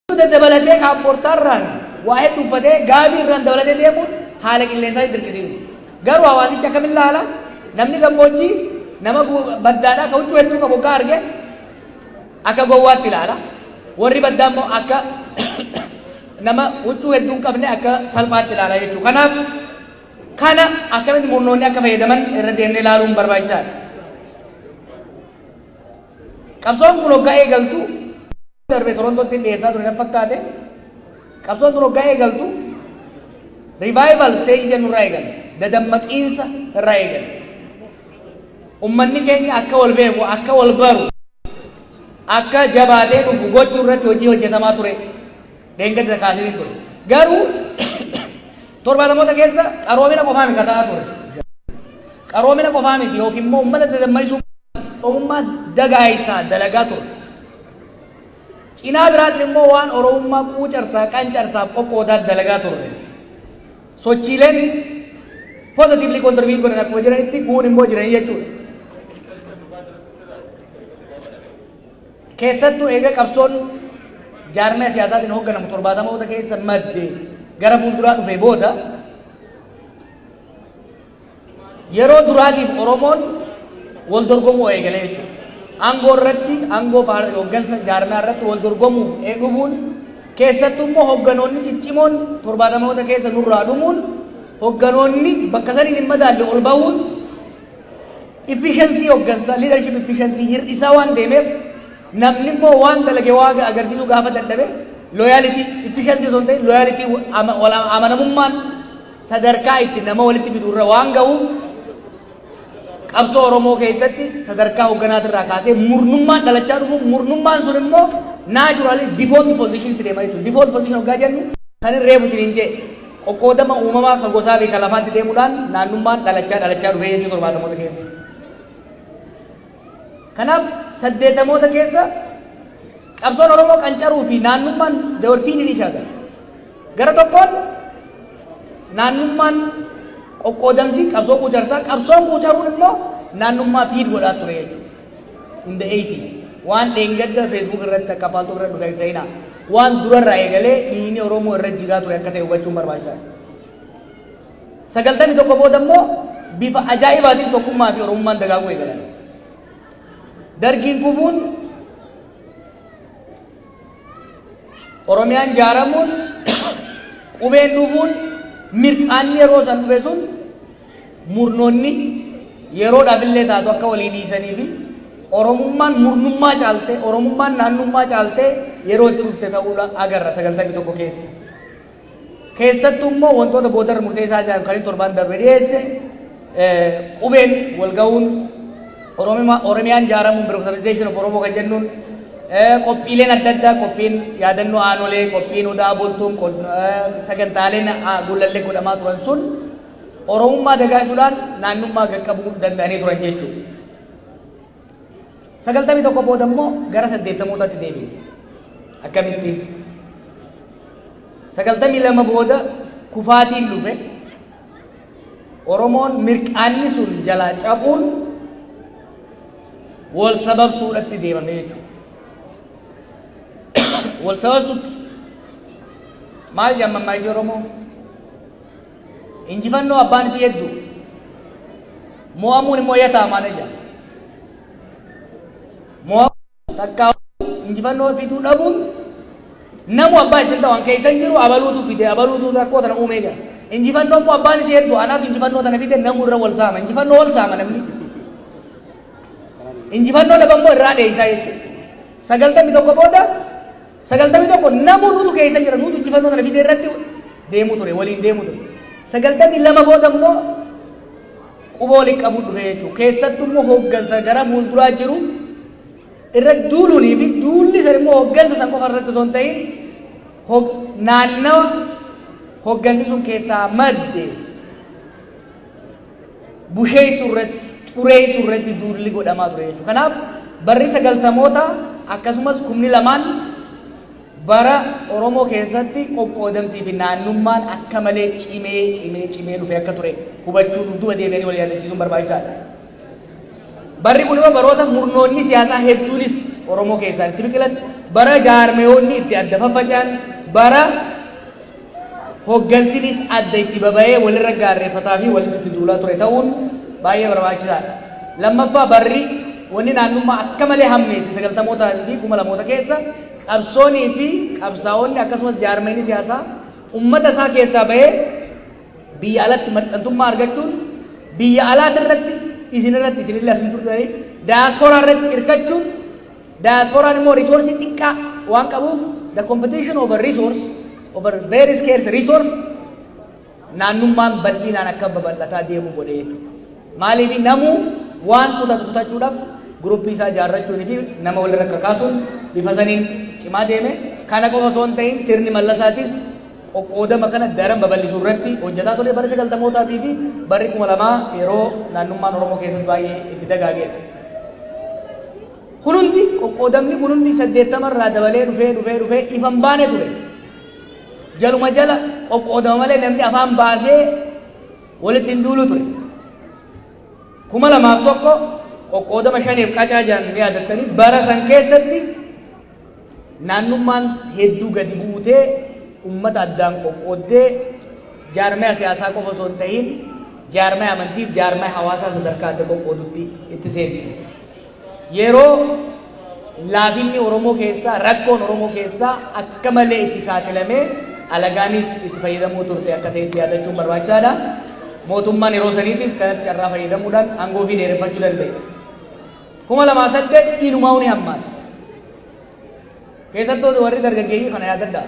Suuta dabalatee kaappoortaarraan waa heddu uffatee gaabii irraan dabalatee deemuun haala qilleensaa hin dirqisiimsu. Garuu hawaasichi akkamiin laala? Namni gammoojjii nama baddaadhaa ka huccuu hedduu qabu oggaa arge akka gowwaatti laala. Warri baddaa immoo akka nama huccuu hedduu hin qabne akka salphaatti laala jechuudha. Kanaaf kana akkamitti murnoonni akka fayyadaman irra deemnee laaluun barbaachisaadha. Qabsoon kun oggaa eegaltu darbe Torontottin dhiyeessaa ture natti fakkaate. Qabsoon tun hoggaa eegaltu revival stage jennu irraa eegale. Dadammaqiinsa irraa eegale. Ummanni keenya akka wal beeku, akka wal baru, akka jabaatee dhufu gochuu irratti hojii hojjetamaa ture. Dheengadda kaaseen ture. Garuu torbaatamoota keessa qaroomina qofaa miti ta'aa ture. Qaroomina qofaa miti yookiin immoo ummata dadammaisuu qofaa miti. Oromummaa dagaayisaa dalagaa ture. Cinaa biraatiin immoo waan Oromummaa quucarsaa, qancarsaaf qoqqoodaat dalagaa turre. Sochiileen positively contribute godhan akkuma jiranitti guun immoo jiranii jechuudha. Keessattuu eega qabsoon jaarmee siyaasaatiin hoogganamu torbaatamoota keessa madde gara fuulduraa dhufee booda Yeroo duraatiif Oromoon wal dorgomuu eegale jechuudha. Aangoo irratti, aangoo hoggansa jaarmiyaa irratti wal dorgomuuf dhufuun keessattuu immoo hogganoonni ciccimoon torbaatamoota keessa nurraa dhumuun hogganoonni bakka saniin hin madaalle ol bahuun efficiency hoggansa leadership efficiency hir'isaa waan deemeef namni immoo waan dalage waaga agarsiisuu gaafa dadhabe loyalty efficiency osoo hin ta'in loyalty wal amanamummaan sadarkaa itti nama walitti fidu irra waan ga'uuf qabsoo Oromoo keessatti sadarkaa hogganaatii irraa kaasee murnummaan dhalachaa dhufu murnummaan sun immoo naachuraalii default position itti deema jechuudha. Default position hoggaa jennu kan hin reefu isiniin jee qoqqoodama uumamaa kan gosaa fi kan lafaatti deemuudhaan naannummaan dhalachaa dhalachaa dhufee jechuu torbaatamoota keessa. Kanaaf saddeetamoota keessa qabsoon Oromoo qancaruu fi naannummaan they were feeding each other. Gara tokkoon naannummaan qoqqoodamsi qabsoo quucarsaa, qabsoon quucaruun immoo naannummaa feed godhaa ture jechuudha. In the 80s waan dheengadda Facebook irratti akka paaltuu irra dhufe hin seenaa. Waan durarraa eegalee dhiigni Oromoo irra jigaa ture akka ta'e hubachuun barbaachisaadha. 91 booda immoo bifa ajaa'ibaatiin tokkummaa fi Oromummaan dagaaguu eegalan. Dargiin kufuun Oromiyaan jaaramuun qubeen dhufuun mirqaanni yeroo san dhufe sun murnoonni yeroodhaaf illee taatu akka walii dhiisanii fi Oromummaan murnummaa caaltee Oromummaan naannummaa caaltee yeroo itti dhufte ta'uudha agarra 91 keessa. Keessattuu immoo wantoota boodarra murteessaa ta'an kan inni torbaan darbe dhiyeesse qubeen wal ga'uun Oromiyaan ijaaramuun birokratization of Oromoo kan jennuun qophiileen adda addaa qophiin yaadannoo aanolee qophiin odaa bultuun sagantaaleen gullallee godhamaa turan sun Oromummaa dagaasuudhaan naannummaa gaqqabuu danda'anii turan jechuudha. 91 booda immoo gara 80taatti deebine. Akkamitti? 92 booda kufaatiin dhufe Oromoon mirqaanni sun jalaa cabuun wal sababsuudhatti deemame jechuudha. Wal sababsuutti maal jaamammaa ishee Oromoo? Injifannoo abbaan isii heddu. Moo'amuun immoo ya taamaana ja. Moo'amuun takkaahuu injifannoo fiduu dhabuun namu abbaa ittin ta'u an keessan jiru abaluutu fide abaluutu rakkoo tana uumee ja. Injifannoo immoo abbaan isii heddu anaatu injifannoo tana fide namu irra wal saama injifannoo wal saama namni. Injifannoo dhaban immoo irraa dheeysaa jechuudha. Sagaltamii tokko booda 91 namuu nutu keessa jira nutu injifannoo sana fidee irratti deemuu ture waliin deemuu ture 92 booda immoo quba waliin qabuun dhufee jechuudha keessattuu immoo hooggansa gara fuulduraa jiru irra duuluunii fi duulli san immoo hooggansa san qofa irratti osoo hin ta'in hog- naannawa hooggansi sun keessaa madde busheessu irratti, xureessu irratti duulli godhamaa ture jechuudha. Kanaaf barri sagaltamoota akkasumas kumni lamaan bara Oromoo keessatti qoqqoodamsii fi naannummaan akka malee cimee cimee cimee dhufee akka ture hubachuu dhufduuba deebi'anii wal yaadachiisuun barbaachisaadha. Barri kun immoo baroota murnoonni siyaasaa hedduunis Oromoo keessaa itti biqilan bara jaarmeewoonni itti adda faffaca'an bara Hoggansinis adda itti baba'ee walirra gaarreeffataa fi walitti itti duulaa ture ta'uun baay'ee barbaachisaa dha. Lammaffaa barri wanni naannummaa akka malee hammeesse sagaltamoota fi kuma lamoota keessa qabsoonii fi qabsaa'onni akkasumas jaarmayni siyaasaa ummata isaa keessaa ba'ee biyya alatti maxxantummaa argachuun biyya alaati irratti isin irratti isin illee asin turtanii daayaspooraa irratti irkachuun Diasporaan immoo resource xiqqaa waan qabuuf the competition over resource over very scarce resource naannummaan bal'inaan akka babal'ataa deemu godhee jechuudha. Maaliif namuu waan kutatu kutachuudhaaf guruppii isaa ijaarrachuun fi nama walirra kakaasuun bifa saniin cimaa deeme kana qofa osoo hin ta'in sirni mallasaatis Qoqqoodama kana daran babal'isuu irratti hojjataa ture bara 90mootaa tii fi barri 2000 yeroo naannummaan Oromoo keessatti baay'ee itti dagaagee dha. Kun hundi, qoqqoodamni kun hundi 80 irraa dabalee dhufee dhufee dhufee ifa hin baane ture. Jaluma jala qoqqoodama malee namni afaan baasee walitti hin duulu ture. 2001 qoqqoodama shaneef qacaa jedhan ni yaadattanii bara san keessatti Naannummaan hedduu gadi buutee ummata addaan qoqqooddee jaarmaya siyaasaa qofa osoo hin tahin jaarmaya amantii fi jaarmaya hawaasaa sadarkaa adda qoqqoodutti itti seente. Yeroo laafinni Oromoo keessaa rakkoon Oromoo keessaa akka malee itti saaxilamee alagaanis itti fayyadamoo turte akka ta'etti yaadachuun barbaachisaa dha. Mootummaan yeroo saniitis kanatti carraa fayyadamuudhaan aangoo ofii dheereffachuu danda'e. 2008 inumaa'uu ni hammaatte. Keessattuu warri dargaggeeyyii kana yaadadhaa.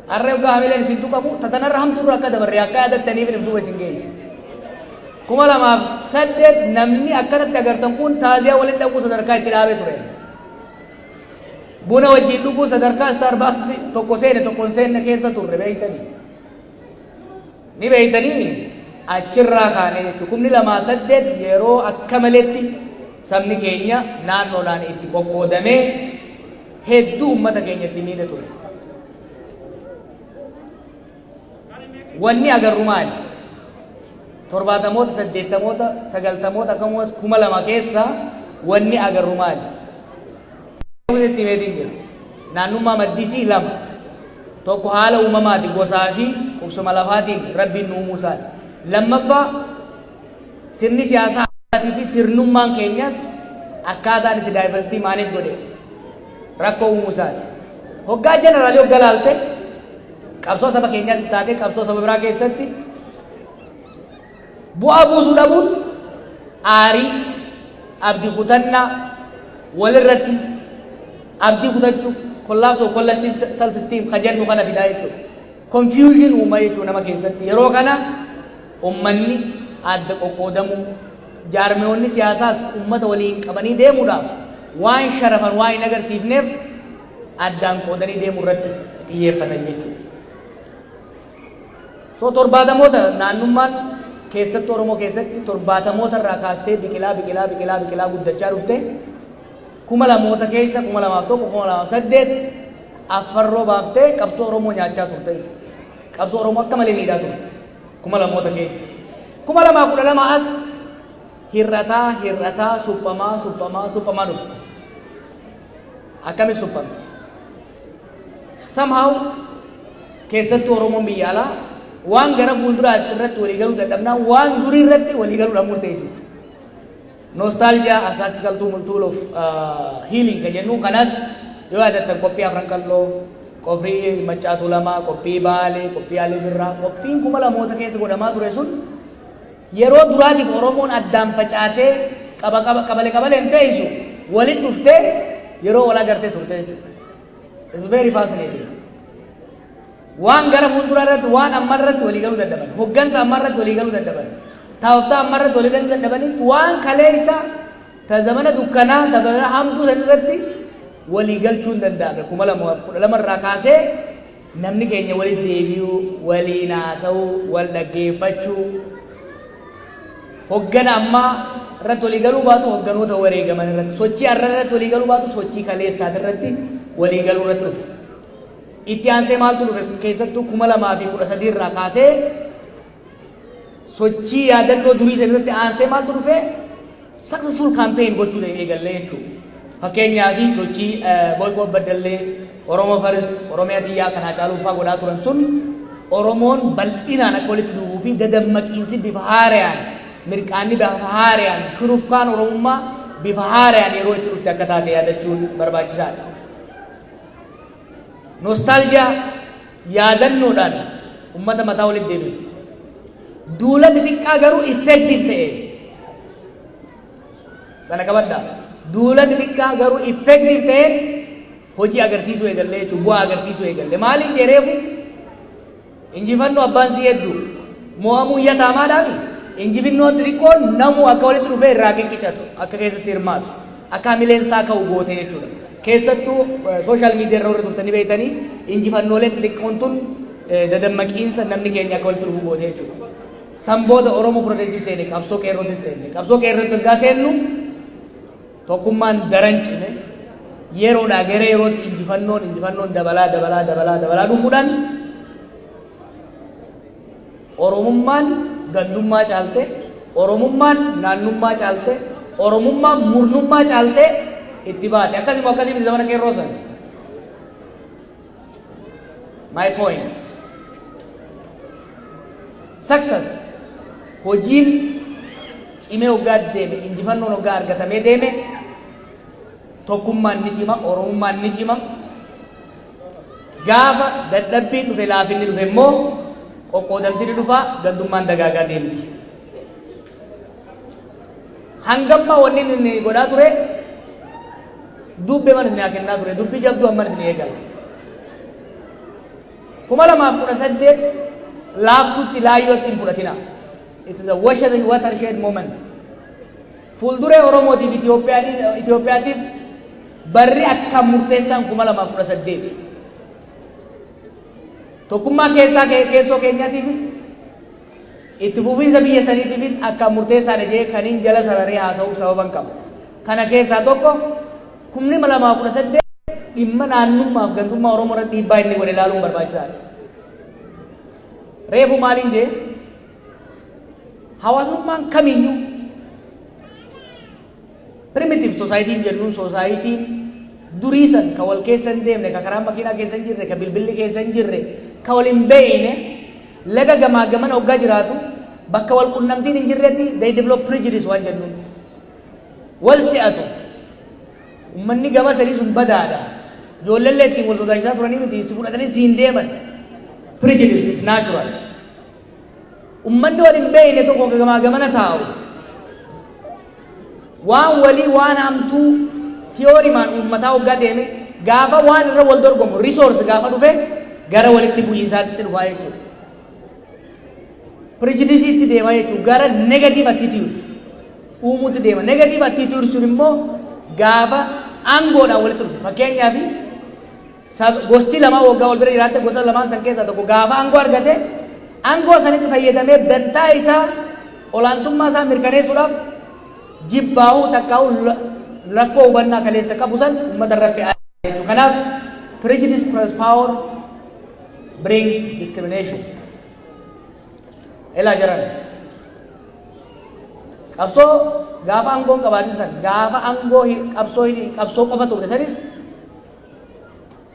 Harree hoggaa hamileen isin tuqamu tatanarra hamtuurra akka dabarre akka yaadattaniif hin duuba isin geesse. 2008 namni akkanatti agartan kun taaziyaa waliin dhaquu sadarkaa itti dhaabee ture. Buna wajjin dhuguu sadarkaa Starbucks tokko seene tokko hin seenne keessa turre beektanii. Ni beeytanii mii? Achirraa kaanee jechuun kumni lamaa saddeet yeroo akka maletti sabni keenya naannoodhaan itti qoqqoodamee hedduu ummata keenya itti miidhe ture. Wanni agarru maali? Torbaatamoota, saddeettamoota, sagaltamoota akkasumas kuma lama keessa wanni agarru maali? Museetti himeetiin jira. Naannummaa maddisii lama. Tokko haala uumamaati gosaa fi qubsuma lafaatiin rabbiin nu uumuu isaati. Lammaffaa sirni siyaasaa hawaasaatii fi sirnummaan keenyas akkaataan itti daayivarsitii maaneej godhe rakkoo uumuu isaati. Hoggaa jeneraalii hogga laalte qabsoo saba keenyaattis taatee qabsoo saba biraa keessatti Bu'aa buusuu dhabuun aarii, abdi kutannaa, wal irratti abdii kutachuu, collapse of collective self esteem ka jennu kana fidaa jechuudha. Confusion uuma jechuudha nama keessatti. Yeroo kana ummanni adda qoqqoodamuu, jaarmiyoonni siyaasaas ummata waliin qabanii deemuudhaaf waan sharafan waan hin agarsiifneef addaan qoodanii deemuu irratti xiyyeeffatan jechuudha. So torbaatamoota naannummaan keessatti Oromoo keessatti torbaatamoota irraa kaastee biqilaa biqilaa biqilaa biqilaa guddachaa dhufte kuma lamoota keessa kuma lamaaf tokko kuma lamaaf saddeet affarroo baaftee qabsoo Oromoo nyaachaa turte qabsoo Oromoo akka malee miidhaa turte kuma lamoota keessa kuma lamaa kudha lama as hir'ataa hir'ataa suphamaa suphamaa suphamaa dhufte akkamitti suphamte Somehow keessattuu Oromoon biyya alaa waan gara fuulduraatti irratti walii galuu dadhabnaa waan durii irratti walii galuudhaan murteessiti. Nostalgia as tactical tool tool of uh, healing kan jennu kanas yoo yaadattan qophii afran qalloo qophii maccaatuu lamaa qophii baalee qophii alii birraa qophiin kuma lamoota keessa godhamaa ture sun Yeroo duraatiif Oromoon addaan facaatee qaba qaba qabale qabaleen teessu walit dhuftee yeroo wal agartee turte jechuudha. It's very fascinating. Waan gara fuulduraa irratti waan amma irratti walii galuu dadhaban, hoggansa amma irratti walii galuu dadhaban, taa'oftaa amma irratti walii galuu dadhabanitti waan kaleessa ta zamana dukkanaa ta bara hamtuu san irratti walii galchuun danda'ame kuma lamaaf kudha lama irraa kaasee Namni keenya walitti deebi'uu, waliin haasa'uu, wal dhaggeeffachuu, hoggana ammaa irratti walii galuu baatu hogganoota wareegaman irratti, sochii har'a irratti walii galuu baatu sochii kaleessaati irratti walii galuu irratti dhufe. Itti aansee maaltu dhufe keessattuu kuma lamaa fi kudha sadii irraa kaasee Sochii yaadannoo durii sana irratti aansee maaltu dhufee successful campaign gochuu ta'e eegallee jechuudha. Fakkeenyaaf sochii Boyqoo Baddallee, Oromoo First, Oromiyaa Tiyyaa kan Haacaaluu fa'aa godhaa turan sun Oromoon bal'inaan akka walitti dhufuu fi dadammaqiinsi bifa haarayaan mirqaanni bifa haarayaan shurufkaan Oromummaa bifa haarayaan yeroo itti dhufte akka taate yaadachuun barbaachisaadha. Nostaaljiyaa yaadannoodhaan ummata mataa walitti deebisu. Duula xixiqqaa garuu effective ta'e. Kana qabadha. Duula xixiqqaa garuu effective ta'e hojii agarsiisuu eegalle jechuun bu'aa agarsiisuu eegalle. Maaliif jedheefu injifannoo abbaan si heddu mo'amuu iyya taamaadhaami. Injifinnoon xixiqqoon namuu akka walitti dhufee irraa qiqqicatu akka keessatti hirmaatu. akka hamileen isaa ka'u goote jechuudha. Keessattuu social media irra warri turtanii beektanii injifannoolee xixiqqoon tun dadammaqiinsa namni keenya akka walitti dhufu goote jechuudha. San booda Oromoo protestii seene qabsoo qeerrootiin seenne. Qabsoo qeerrootiin ergaa seennu tokkummaan daran cime yeroodhaa gara yerootti injifannoon injifannoon dabalaa dabalaa dabalaa dabalaa dhufuudhaan Oromummaan gandummaa caaltee, Oromummaan naannummaa caaltee, Oromummaan murnummaa caaltee itti baate. Akkasi moo akkasii miti zamana qeerroo san? My point. Success hojiin cimee hoggaa deeme, injifannoon hoggaa argatamee deeme, tokkummaan ni cima, Oromummaan ni cima, Gaafa dadhabbiin dhufe laafinni dhufe immoo qoqqoodamti ni dhufa gandummaan dagaagaa deemti. Hangamma wanni inni godhaa ture dubbe mana isin haa kennaa ture dubbi jabduu amman isin eegala. kuma lamaaf kudha saddeet laaftutti laayyootti hin fudhatina. It is a watershed moment. Fuulduree Oromootiif Itiyoophiyaatiif barri akkaan murteessaan 2018. Tokkummaa keessaa keessoo keenyaatiifis itti fufiinsa biyya saniitiifis akkaan murteessaadha jee kaniin jala sararee haasa'uuf sababan qaba. Kana keessaa tokko 2018 dhimma naannummaaf gandummaa Oromoo irratti dhiibbaa inni godhe ilaaluun barbaachisaadha. Reefu maaliin jee? Hawaasummaan kamiyyuu primitive society jennuun society durii san ka wal keessa hin deemne ka karaa makiinaa keessa hin jirre ka bilbilli keessa hin jirre ka wal hin beeyne laga gamaa gamana hoggaa jiraatu bakka wal qunnamtiin hin jirretti they develop prejudice waan jennuun wal si'atu ummanni gama sadii sun badaadha ijoolleen ittiin wal sodaachisaa turanii miti si fudhatanii si hin deeman prejudice is natural Ummanni wal hin beekne tokko ka gamaa gamana taa'u, waan walii waan hamtuu tiyoorimaan uummataa hoggaa deeme, gaafa waan irra wal dorgomu, resource gaafa dhufe, gara walitti bu'iinsaatitti dhufaa jechuudha. Prijidisiitti deema jechuudha. Gara negative attitude uumuutti deema. Negative attitude sun immoo gaafa aangoodhaan walitti dhufu. Fakkeenyaaf Sa, Gosti lamaan waggaa wal bira jiraatte gosa lamaan san keessaa tokko gaafa aangoo argate aangoo sanitti fayyadamee dantaa isaa, olaantummaa isaa mirkaneessuudhaaf jibbaahuu takkaahuu rakkoo hubannaa kaleessa qabu san ummata irra fe'aa jira jechuudha. Kanaaf prejudice plus power brings discrimination. Elaa jaran. Qabsoo gaafa aangoon qabaatin san gaafa aangoo qabsoo qabsoo qofa turre sanis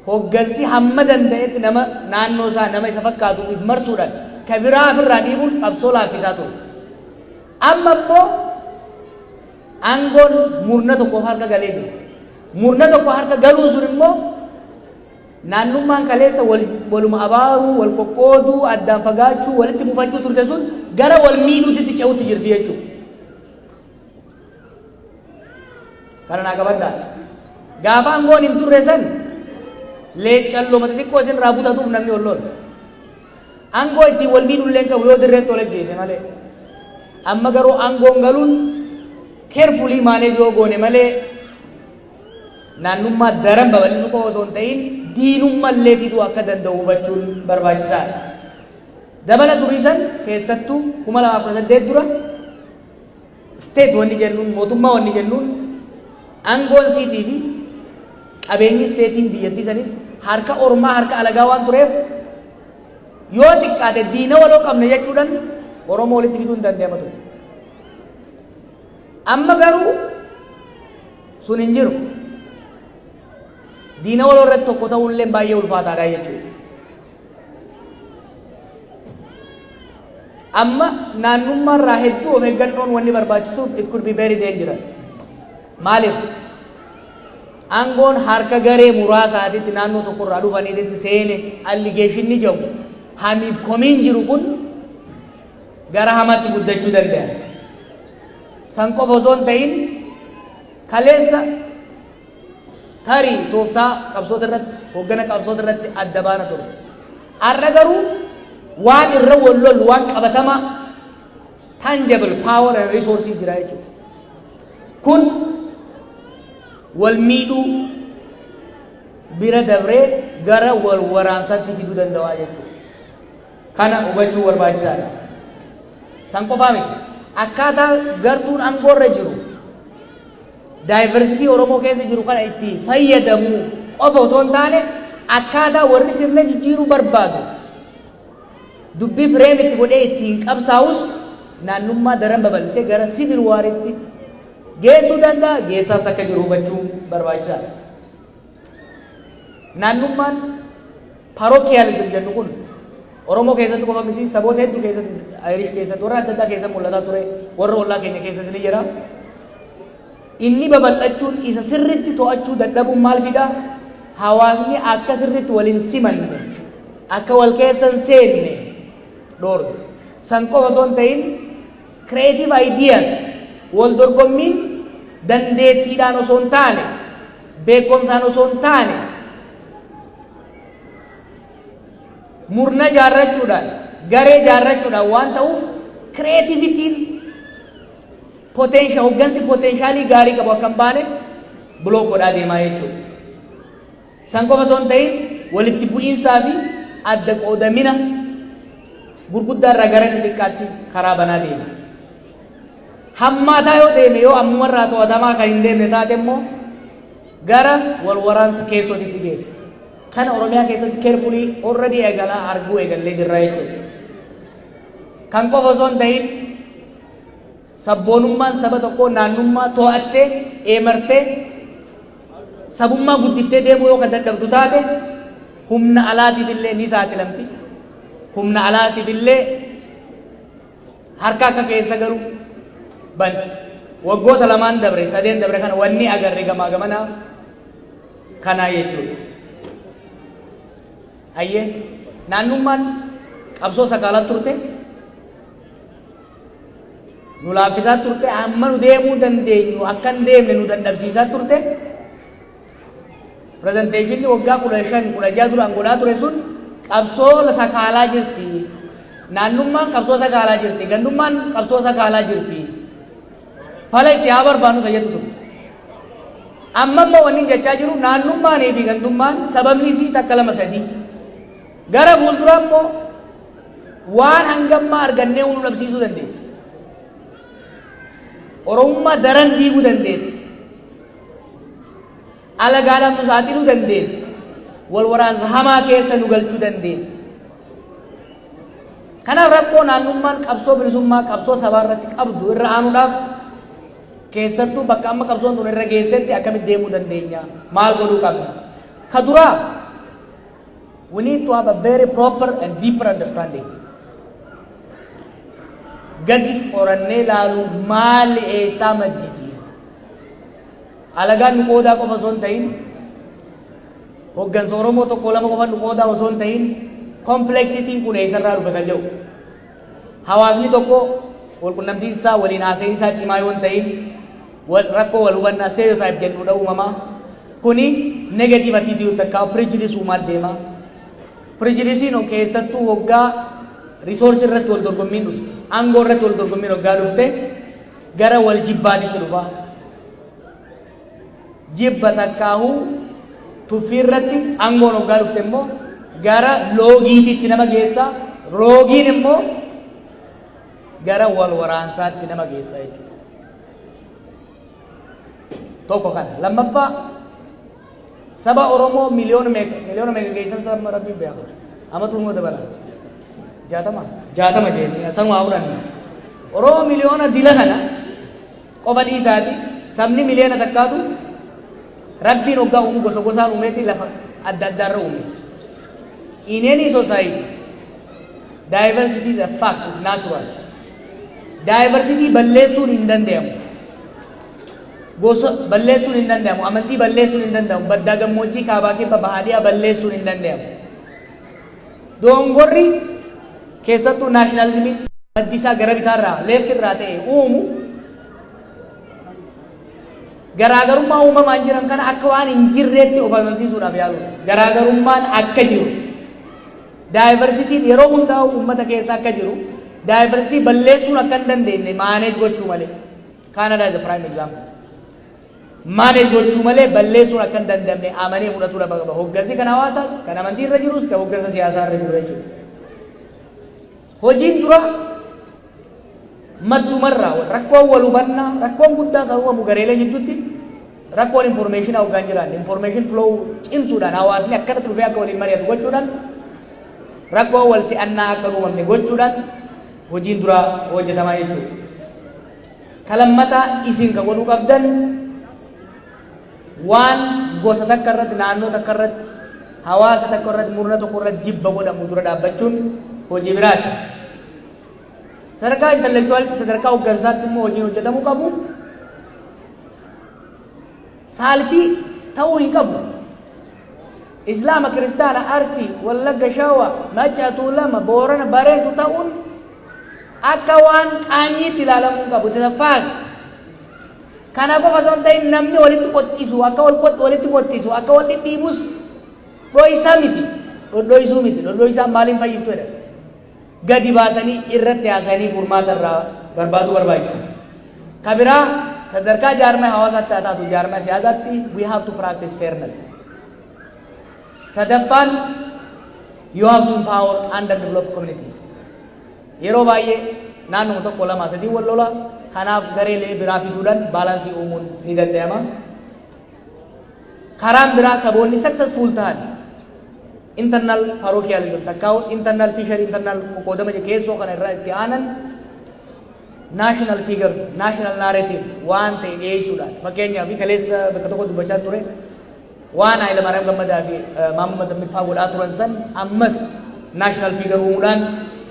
Hoggansi hamma danda'etti nama naannoo isaa, nama isa fakkaatu if marsuudhaan ka biraa if irraa dhiibuun qabsoo laaffisaa ture. Amma immoo aangoon murna tokkoof harka galee jira. Murna tokko harka galuun sun immoo naannummaan kaleessa wal, waluma abaaruu, wal qoqqooduu, addaan fagaachuu, walitti mufachuu turte sun gara wal miidhuutitti ce'utti jirti jechuudha. kana naa qabadhaa gaafa angoon hin turre san leeccalloo mata xiqqoo isin irraa butatuuf namni ol lola angoo ittiin wal miidhullee hin qabu yoo dirreetti ol ajjeese malee amma garuu angoon galuun keerfulii maalee yoo goone malee naannummaa daran babal'isuu qofa osoo hin ta'in diinummaa illee fiduu akka danda'u hubachuun barbaachisaadha. Dabala durii san keessattuu kuma lamaaf kudha saddeet dura State wanni jennuun, mootummaa wanni jennuun angoon siitii fi qabeenyi state'n biyyattii saniis harka ormaa, harka alagaa waan tureef yoo xiqqaate diina waloo qabna jechuudhan Oromoo walitti fiduun dandayama ture. Amma garuu sun hin jiru. Diina waloo irratti tokko ta'uun illeen baay'ee ulfaataadha jechuudha. Amma naannummaa irraa hedduu of eeggannoon wanni barbaachisuuf it could be very dangerous. Maaliif? Aangoon harka garee muraasaatitti naannoo tokko irraa dhufaniititti seene alligeeshinni jedhu hamiif komiin jiru kun gara hamaatti guddachuu danda'a. San qofa osoo hin ta'in kaleessa Tarii tooftaa qabsoota irratti, hooggana qabsoota irratti adda baana turre. Har'a garuu waan irra wal lollu waan qabatamaa tangible power and resource jira jechuudha. Kun wal miidhuu bira dabree gara wal waraansaatti fiduu danda'a jechuudha. Kana hubachuu barbaachisaadha. San qofaa miti. Akkaataa gartuun aangoorra jiru Daayivarsitii Oromoo keessa jiru kana itti fayyadamuu qofa osoo hin taane akkaataa warri sirna jijjiiruu barbaadu dubbii fireem itti godhee ittiin qabsaa'us naannummaa daran babal'isee gara siivil waariitti geessuu danda'a geessaas akka jiru hubachuun barbaachisaadha. Naannummaan parochialism jennu kun Oromoo keessatti qofa miti saboota hedduu keessatti Ayirish keessatti warra adda addaa keessa mul'ataa ture warra ollaa keenya keessas ni jira. Inni babal'achuun isa sirriitti to'achuu dadhabuun maal fida? Hawaasni akka sirriitti wal hin simanne akka wal keessa hin seenne dhoorga. San qofa osoo hin ta'in Creative Ideas, Waldorgommiin dandeettiidhaan osoo hin taane, beekkomsaan osoo hin taane, murna ijaarrachuudhaan, garee ijaarrachuudhaan waan ta'uuf creativity'n potential, hoggansi potentialii gaarii qabu akka hin baane block godhaa deema jechuudha. San qofa osoo hin ta'in walitti bu'iinsaa fi adda qoodamina gurguddaa irraa gara inni xiqqaatti karaa banaa deema. Hammaataa yoo deeme yoo ammuma irraa to'atamaa kan hin deemne taate immoo gara wal waraansa keessootitti geessa. Kana Oromiyaa keessatti keerfulii already eegalaa arguu eegallee jirra jechuudha. Kan qofa osoo hin ta'in Sabboonummaan saba tokkoo naannummaa too'attee, eemartee, sabummaa guddiftee deemuu yoo kan dadhabdu taate humna alaatiif illee ni saaxilamti. Humna alaatiif illee harka akka keessa galu banti. Waggoota lamaan dabre, sadeen dabre kana wanni agarre gamaa gamanaa kanaa jechuudha. Hayyee naannummaan qabsoo sakaalaa turte. nu laaffisaa turte amma nu deemuu dandeenyu akka hin deemne nu dadhabsiisaa turte pirezenteeshinni waggaa kudha shan kudha jaha duraan godhaa ture sun qabsoo sakaalaa jirti naannummaan qabsoo sakaalaa jirti gandummaan qabsoo sakaalaa jirti fala itti haa barbaannu tayyatu turte amma amma wanni jechaa jiru naannummaanii fi gandummaan sababni isii takka lama sadii Gara fuulduraa immoo waan hangammaa argannee nu dhabsiisuu dandeessi. Oromummaa daran diiguu dandeessi. Alagaadhaan nu saaxiluu dandeessi. Wal waraansa hamaa keessa nu galchuu dandeessi. Kanaaf rakkoo naannummaan qabsoo bilisummaa qabsoo sabaa irratti qabdu irra aanuudhaaf keessattuu bakka amma qabsoon tun irra geessetti akkamitti deemuu dandeenya? Maal godhuu qabna? Ka duraa We need to have a very proper and deeper understanding. Gadi qorannee ilaalu maali eessaa madditi? Alagaan nu qoodaa qofa osoo hin ta'in, hoggansa Oromoo tokko lama qofa nu qoodaa osoo hin ta'in, kompleksitiin kun eessarraa dhufe kan jedhu. Hawaasni tokko walqunnamtiin isaa waliin haasa'in isaa cimaa yoo hin ta'in wal rakkoo wal hubannaa stereotype jennuudha uumama. Kuni negative attitude takka prejudice uumaa deema. Prejudice'n keessattuu hoggaa resource irratti wal dorgommiin dhufte, aangoo irratti wal dorgommiin hoggaa dhufte gara wal jibbaatitti dhufa. jibba takkaahuu tuffii irratti angoon hoggaa dhufte immoo gara loogiitiitti nama geessa roogiin immoo gara wal waraansaatti nama geessa jechuudha. Tokko kana. Lammaffaa saba Oromoo miliyoona meeqa miliyoona meeqa geessan saba rabbiin beeku. Amatu immoo dabala. Jaatama. Jaatama jennee sanuma fudhanne. Oromoo miliyoona dila kana Qofa dhiisaati sabni miliyoona takkaatu Rabbiin hoggaa uumu gosa gosaan uumeeti lafa adda addaarra uume. In any society, diversity is a fact, is natural. Diversity balleessuun hin danda'amu. Gosa balleessuun hin danda'amu. Amantii balleessuun hin danda'amu. Baddaa gammoojjii kaabaa kibba bahaa dhiyaa balleessuun hin danda'amu. Doongorri keessattuu naashinaalizimii maddi isaa gara bitaarraa leefti irraa ta'e uumu garaagarummaa uumamaan jiran kana akka waan hin jirreetti of amansiisuudhaaf yaaluudha. Garaagarummaan akka jiru daayivarsitiin yeroo hundaa'u uummata keessa akka jiru daayivarsitii balleessuun akka hin dandeenye maaneej gochuu malee. Kaanadaa is a prime example. manage gochuu malee balleessuun akka hin dandamne amanee fudhatuu lafa qaba. Hoggansi kan hawaasaas, kan amantii irra jirus, kan hoggansa siyaasaa irra jiru jechuudha. Hojiin dura maddumarraa rakkoon wal hubannaa, rakkoon guddaan kan uumamu gareelee jidduutti rakkoon informeeshinaa hoggaan jiraan informeeshin flow cimsuudhaan hawaasni akkanatti dhufee akka waliin mari'atu gochuudhaan rakkoon wal si'annaa akka uumamne gochuudhaan hojiin duraa hojjetamaa jechuudha. Ka lammataa isin ka godhuu qabdan waan gosa takka irratti, naannoo takka irratti, hawaasa takka irratti, murna tokko irratti jibba godhamu dura dhaabbachuun hojii biraati. Sadarkaa intellectuality sadarkaa hoggansaatti immoo hojiin hojjetamuu qabu Saalfii ta'uu hin qabu. Islaama, Kiristaana, Arsii, Wallagga, Shawaa, Maccaa, Tuulama, Boorana, Barentu ta'uun akka waan qaanyiitti ilaalamuu hin qabu. It is a fact. Kana qofa osoo hin ta'in namni walitti qoxxisu, akka wal qox- walitti qoxxisu, akka wal dhidhiibus dhoysaa miti. Dhodhoysuu miti. Dhodhoysaan maaliin fayyiftu jedha. gadi baasanii irratti haasayanii furmaata irraa barbaaduu barbaachisa. Ka biraa sadarkaa jaarmaya hawaasaatti haa taatu jaarmaya siyaasaatti we have to practice fairness. Sadaffaan you have to empower underdeveloped communities. Yeroo baay'ee naannuma tokko lama sadii wal lola kanaaf gareelee biraa fiduudhaan baalaansii uumuun ni danda'ama. Karaan biraa saboonni successful tahan internal parochialism takkaa internal fishery internal qoqqoodama je keessoo kana irraa itti aanan national figure national narrative waan ta'e dhiyeessuudhaan fakkeenyaaf kaleessa bakka tokko dubbachaa ture waan Haayila Maariyaam Gammadaa fi Maammoo Mazammil fa'aa godhaa turan san ammas national figure uumuudhaan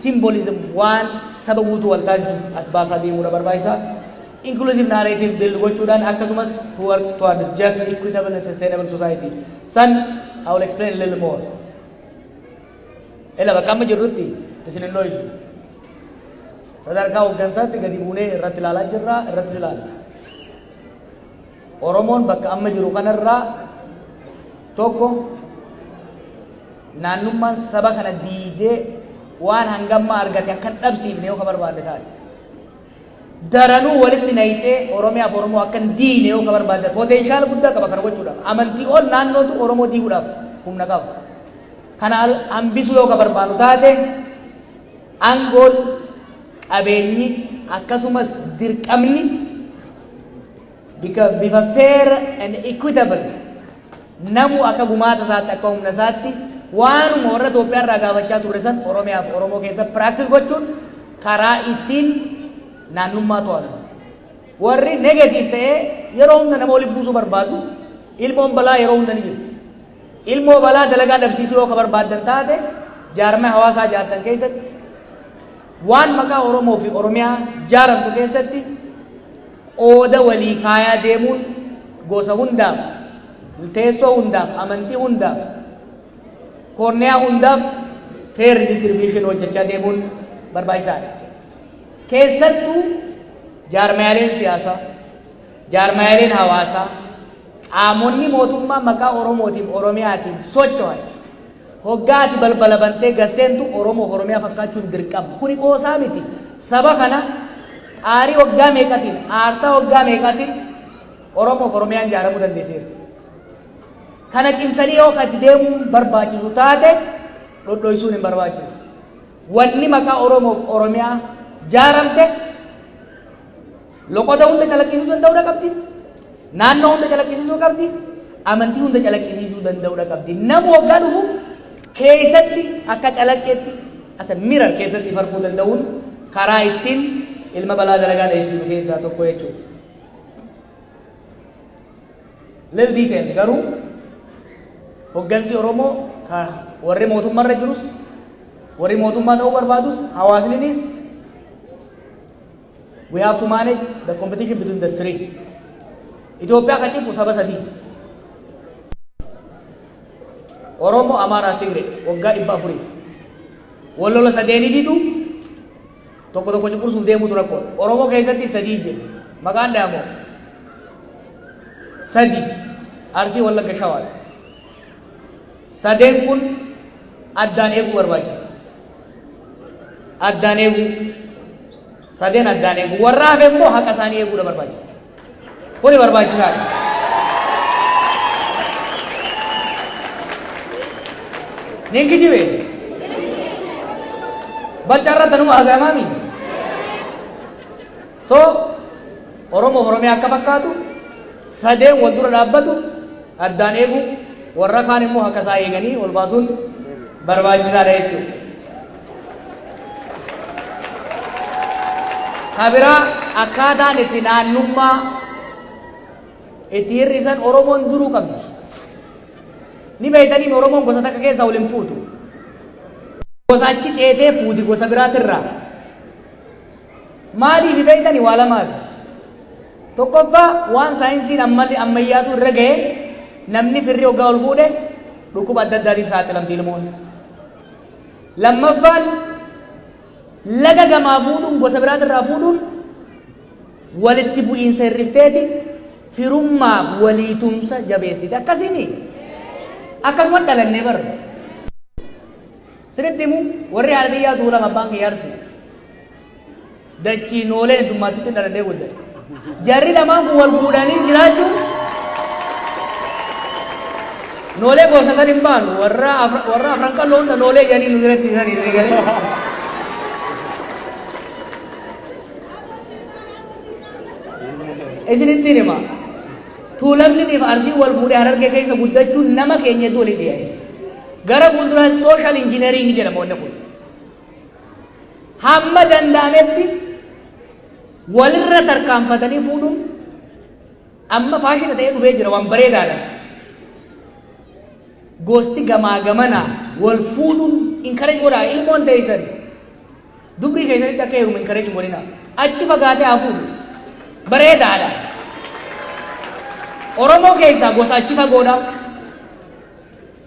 symbolism waan saba guutuu wal taasisu as baasaa deemuudha barbaachisaa inclusive narrative build gochuudhaan akkasumas to work towards just, equitable and sustainable society. San I will explain a little more. Ela bakka amma jirrutti isin hin looyisu. Sadarkaa hooggansaatti gadi buunee irratti ilaalaa jirra, irratti ilaalla. Oromoon bakka amma jiru kanarraa tokko naannummaan saba kana diidee waan hangammaa argate akka hin dhabsiifne yoo ka barbaanne taate. daranuu walitti nayxee Oromiyaaf Oromoo akka hin diigne yoo ka barbaaddan potential guddaa qaba kana gochuudhaaf. Amantii ol naannootu Oromoo diiguudhaaf humna qaba. Kana hambisuu yoo ka barbaannu taate angoon, qabeenyi akkasumas dirqamni bika bifa fair and equitable namu akka gumaata isaatti akka humna isaatti waanuma warra Itoophiyaa irraa gaafachaa turre san Oromiyaaf Oromoo keessa practice gochuun karaa ittiin naannummaa to'atu. Warri negative ta'ee yeroo hunda nama walitti buusuu barbaadu ilmoon balaa yeroo hunda ni jirti. Ilmoo balaa dalagaa dhabsiisuu yoo ka barbaaddan taate jaarmee hawaasaa jaartan keessatti waan maqaa Oromoo fi Oromiyaa jaaramtu keessatti qooda walii kaayaa deemuun gosa hundaaf, teessoo hundaaf, amantii hundaaf, koorniyaa hundaaf fair distribution hojjechaa deemuun barbaachisaadha. Keessattuu jaarmayaaleen siyaasaa, jaarmayaaleen hawaasaa, qaamonni mootummaa maqaa Oromootiin Oromiyaatiin socho'an Hoggaa ati balbala bantee gad seentu Oromoo fi Oromiyaa fakkaachuun dirqama. Kuni qoosaa miti. Saba kana xaarii waggaa meeqatiin, aarsaa waggaa meeqaatiin Oromoo fi Oromiyaan ijaaramuu dandeesseerti. Kana cimsanii yoo ka itti deemuun barbaachisu taate dhodhoysuun hin barbaachisu. Wanni maqaa Oromoo fi Oromiyaa jaaramte Loqoda hunda calaqqisiisuu danda'udha qabdi. Naannoo hunda calaqqisiisuu qabdi. Amantii hunda calaqqisiisuu danda'udha qabdi. Namu waggaa dhufu keessatti akka calaqqeetti as a mirror keessatti if arguu danda'uun karaa ittiin ilma balaa dalagaa dheessinu keessaa tokko jechuudha. Little detail garuu hoggansi Oromoo ka warri mootummaarra jirus warri mootummaa ta'uu barbaadus hawaasninis We have to manage the competition between the three. Itoophiyaa kan cimsu saba sadii. Oromoo, Amaaraa, Tigree waggaa dhibba afuriif. Wal lola sadeenii didu tokko tokko cunqursuuf deemuutu rakkoodha. Oromoo keessatti sadii jiru. Maqaan dhaamoo sadii Arsii Wallagga Shawaadha. Sadeen kun addaan eeguu barbaachisa. Addaan eeguu. Sadeen addaan eeguu. Warra hafe immoo haqa isaanii eeguudha barbaachisa. Kuni barbaachisaadha. Ni kijibe. Balcarra tanuma haasa'amaami. So Oromoof Oromiyaa akka fakkaatu sadeen wal dura dhaabbatu addaan eeguu warra kaan immoo akka isaa eeganii ol baasuun barbaachisaadha jechuudha. Kabiraa akkaataan itti naannummaa itti hir'isan Oromoon duruu qabdi. Ni beektanii Oromoon gosa takka keessaa wal hin fuutu. Gosa achi ceetee fuuti gosa biraatirraa. Maaliifi beektani? Waa lamaafi. Tokkoffaa waan saayinsiin ammalli ammayyaatu irra gahe namni firri hoggaa wal fuudhe dhukkuba adda addaatiif saaxilamti ilmoon. Lammaffaan laga gamaa fuudhuun gosa biraatirraa fuudhuun walitti bu'iinsa hir'ifteeti firummaaf walii tumsa jabeessiti. Akkasiimi akkasuma dhalannee barra. Siritti himu warri haadha tiyyaa duulaaf abbaan kiyya Arsii. Dachii noolee heddummaattutti dhaladhee guddate. Jarri lamaan kun wal fuudhanii jiraachuun noolee gosa san hin baanu warra afra- warra afran qalloo hunda noolee jedhanii nu biratti isanii ni galee. Isinitti hima. Tuulamni fi arsiin wal fuudhee harargee keessa guddachuun nama keenya iddoo waliin dhiyeessa. Gara fuulduraatti social engineering jedhama wanni kun. Hamma danda'ametti walirra tarkaanfatanii fuudhuun amma faashina ta'ee dhufee jira waan bareedaadha. Gosti gamaa gamana wal fuudhuun encourage godhaa ilmoon teessan dubrii keessanitti akka heerumu encourage godhina achi fagaatee haa fuudhu bareedaadha. Oromoo keessaa gosa achi fagoodha.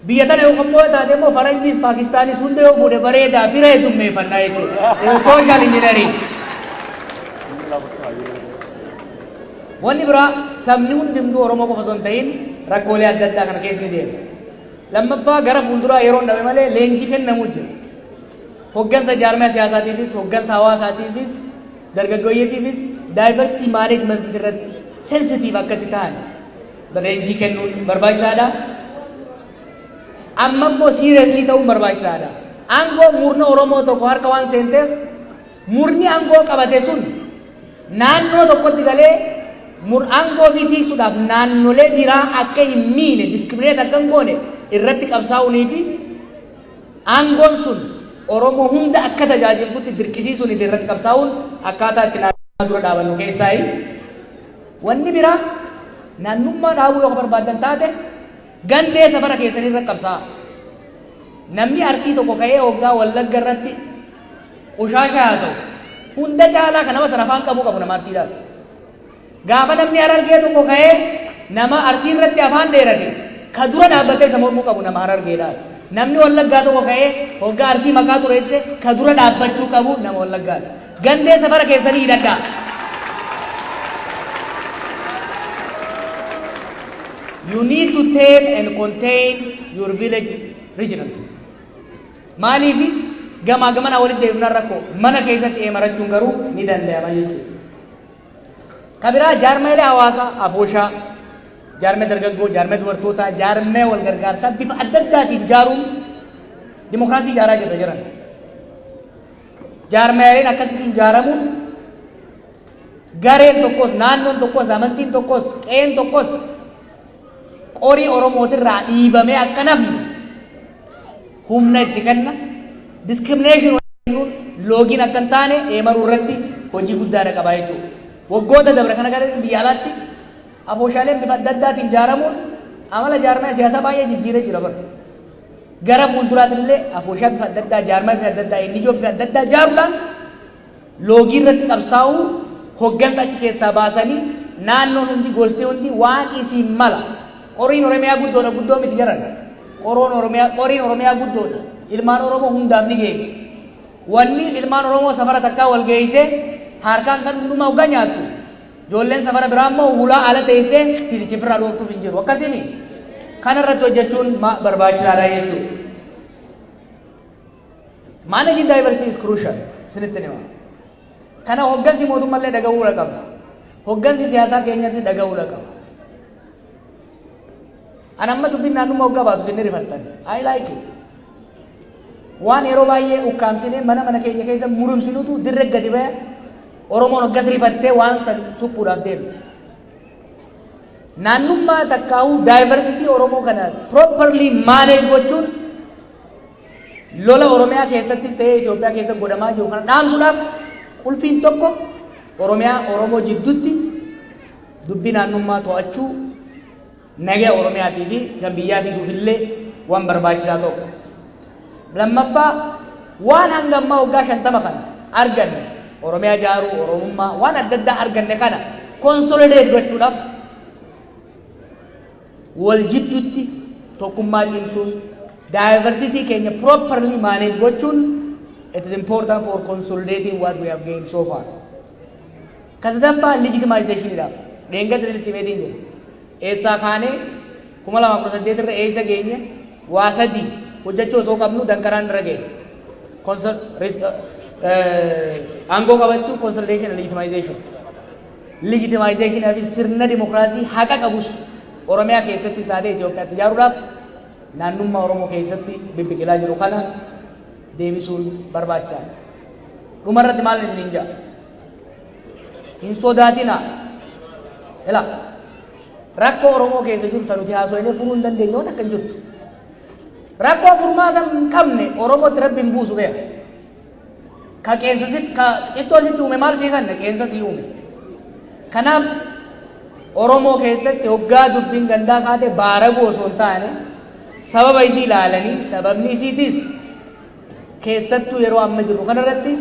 Biyya tana yoo qophoo'ee taate immoo Faranjiis Paakistaanis hunda yoo fuudhe bareedaa fira hedummeefannaa jechuudha. Is a social engineering. Wanni biraa sabni hundumtuu Oromoo qofa osoo hin ta'in rakkoolee adda addaa kana keessa ni deema. Lammaffaa gara fuulduraa yeroo hin dhabe malee leenjii kennamuu jira. Hoggansa jaarmaya siyaasaatiifis, hoggansa hawaasaatiifis, dargaggooyyetiifis diversity management irratti sensitive akkatti ta'an leenjii kennuun barbaachisaadha. Amma immoo siireeslii ta'uun barbaachisaadha. Aangoo murna Oromoo tokko harka waan seenteef murni aangoo qabate sun naannoo tokkotti galee mur aangoo fi tiisuudhaaf naannolee biraa akka hin miine diskirineet akka hin goone irratti qabsaa'uunii fi aangoon sun Oromoo hunda akka tajaajilutti dirqisiisuunii fi irratti qabsaa'uun akkaataa itti naannoo dura dhaabannu keessaayi. Wanni biraa, naannummaa dhaabuu yoo ka barbaaddan taate, gandee safara keessanii irratti qabsaa'a. Namni Arsii tokko ka'ee hoggaa Wallagga irratti qushaasha haasawu, hunda caalaa ka nama san afaan qabuu qabu nama Arsiidhaati. Gaafa namni Harargee tokko ka'ee nama Arsii irratti afaan dheerate, ka dura dhaabbatee isa mormuu qabu nama Harargeedhaati. Namni Wallaggaa tokko ka'ee hoggaa Arsii maqaa xureesse, ka dura dhaabbachuu qabu nama Wallaggaati. Gandee safara keessanii hidhadhaa. You need to tame and contain your village regionals. Maaliifi gamaa gamanaa walitti deemnaan rakkoo mana keessatti eemarachuun garuu ni danda'ama jechuudha. Kabiraa jaarmeelee hawaasaa afooshaa, jaarmee dargaggoo, jaarmee dubartootaa, jaarmee wal gargaarsaa bifa adda addaatiin jaaruun dimokiraasii jaaraa jirra jiran. Jaarmayaaleen akkasii sun jaaramuun gareen tokkos, naannoon tokkos, amantiin tokkos, qe'een tokkos qorii Oromootirraa dhiibamee akka nafne humna itti kenna. Diskirimination kennuun loogiin akka hin taane eemaruu irratti hojii guddaadha qabaa jechuudha. Waggoota dabre kana gara biyya alaatti afooshaaleen bifa adda addaatiin jaaramuun amala jaarmaya siyaasaa baay'ee jijjiiree jira bara. Gara fuulduraatti illee afooshaa bifa adda addaa, jaarmaa bifa adda addaa, NGO bifa adda addaa jaaruudhaan loogii irratti qabsaa'uu, hoggansa achi keessaa baasanii naannoon hundi, gosti hundi waan isiin mala. Qoriin Oromiyaa guddoodha, guddoo miti jedhan. Qoroon Oromiyaa, qoriin Oromiyaa guddoodha. Ilmaan Oromoo hundaaf ni geessi. Wanni ilmaan Oromoo safara takkaa wal geessee harkaan kan hundumaa hoggaa nyaattu Ijoolleen safara biraa immoo hulaa ala teessee tiiticha ofirraa dhooftuuf hin jiru. Akkasii mii? Kana irratti hojjechuun barbaachisaadha jechuudha. Managing diversity is crucial. Isinitti hima. Kana hoggansi mootummallee dhaga'uu qaba. Hoggansi siyaasaa keenyatti dhaga'uu qaba. An amma dubbin naannumma hoggaa baatu isin ni rifattan. I like it. Waan yeroo baay'ee ukkaamsinee mana mana keenya keessa murumsinutu dirre gadi baya Oromoon hoggas rifattee waan san suphuudhaaf deemti. Naannummaa takkaahuu diversity Oromoo kana properly manage gochuun lola Oromiyaa keessattis ta'ee Itoophiyaa keessa godhamaa jiru kana dhaamsuudhaaf qulfiin tokko Oromiyaa Oromoo jiddutti dubbii naannummaa to'achuu Nagaa Oromiyaatii fi kan biyyaa fiduuf illee waan barbaachisaa tokko. Lammaffaa waan hanga ammaa waggaa shantama kana arganne Oromiyaa ijaaruu, Oromummaa waan adda addaa arganne kana konsolideet gochuudhaaf wal jidduutti tokkummaa cimsuun daayivarsitii keenya properly maaneej gochuun it is important for consolidating what we have gained so far. Ka sadaffaa legitimisation dhaaf. Dheengadda isinitti himeetiin jira. Eessaa kaanee 2018 irra eessa geenye waa sadii hojjachuu osoo qabnu danqaraan irra ga'e. Consol- res- eh, Aangoo qabachuu consolidation and legitimisation. Legitimisation fi sirna dimokiraasii haqa qabus Oromiyaa keessattis taatee Itoophiyaatti ijaaruudhaaf naannummaa Oromoo keessatti bibbiqilaa jiru kana deebisuun barbaachisaadha. Dhumarratti maal isiniin jedha? hin sodaatina ila rakkoo oromoo keessa jiru ta nuti haasoyne furuu hin dandeenye waan akka hin jirtu rakkoo furmaata hin qabne oromootti rabbi hin buusu beeka ka qeensa sit ka cittoo sitti uume maal sii kanna qeensa sii uume kanaaf oromoo keessatti hoggaa dubbiin gandaa kaate baaraguu osoo hin taane sababa isii ilaalanii sababni isiitis keessattuu yeroo amma jirru kanarratti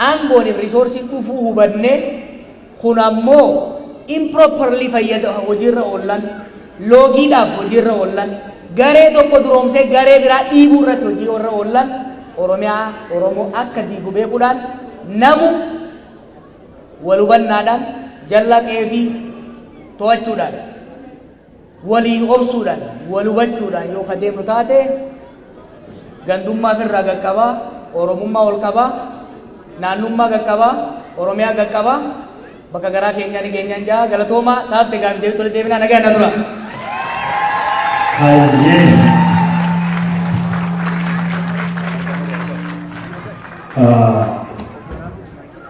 Aangoonif resource dhufuu hubanne kun ammoo improperly fayyada hojiirra oollan, loogiidhaaf hojiirra oollan, garee tokko duroomsee garee biraa dhiibuu irratti hojiiorra oollan Oromiyaa, Oromoo akka diigu beekuudhaan namu wal hubannaadhaan jallaa qe'eefii to'achuudhaan. Walii obsuudhaan, wal hubachuudhaan yoo ka deemnu taate gandummaa firraa gad qaba, Oromummaa ol qaba, naannummaa gad qaba, Oromiyaa gad qaba, bakka garaa keenyaa ni geenyaan jaa galatoomaa taafte gaafi deebitti walitti deebinaa nagaa na dura. Hayyee. Ah,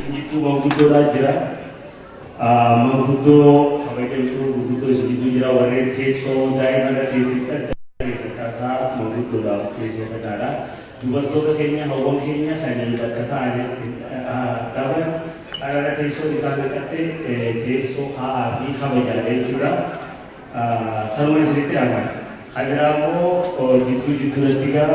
Isiniittuu manguddoodhaa jira. Manguddoo kabajamtuu gurguddoo isiniittuu jira. Warreen teessoo daa'ima irra teessiftan daa'ima keessan kaasaa manguddoodhaaf teessoo kennaadha. Dubartoota keenya hawwan keenya kan bakka taa'an dhaban qarara teessoo isaan hanqatte teessoo kaa'aa fi kabajaadha jechuudha. Sanuma isinitti aanna. Kan biraa immoo jidduu jidduu irratti gaa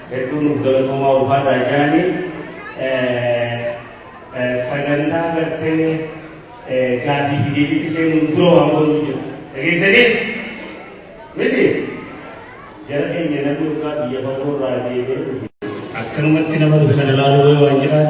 Hedduu nuuf galatoomaa ulfaadhaa jaani sagantaa gartee gaaffii fi deebiitti seenuun dura waan goonu jira. Dhageessanii? Miti? Jara keenya namni dhugaa biyya fagoo irraa deebi'ee dhufe. Akkanumatti nama dhufe kana ilaaluu waan jiraate.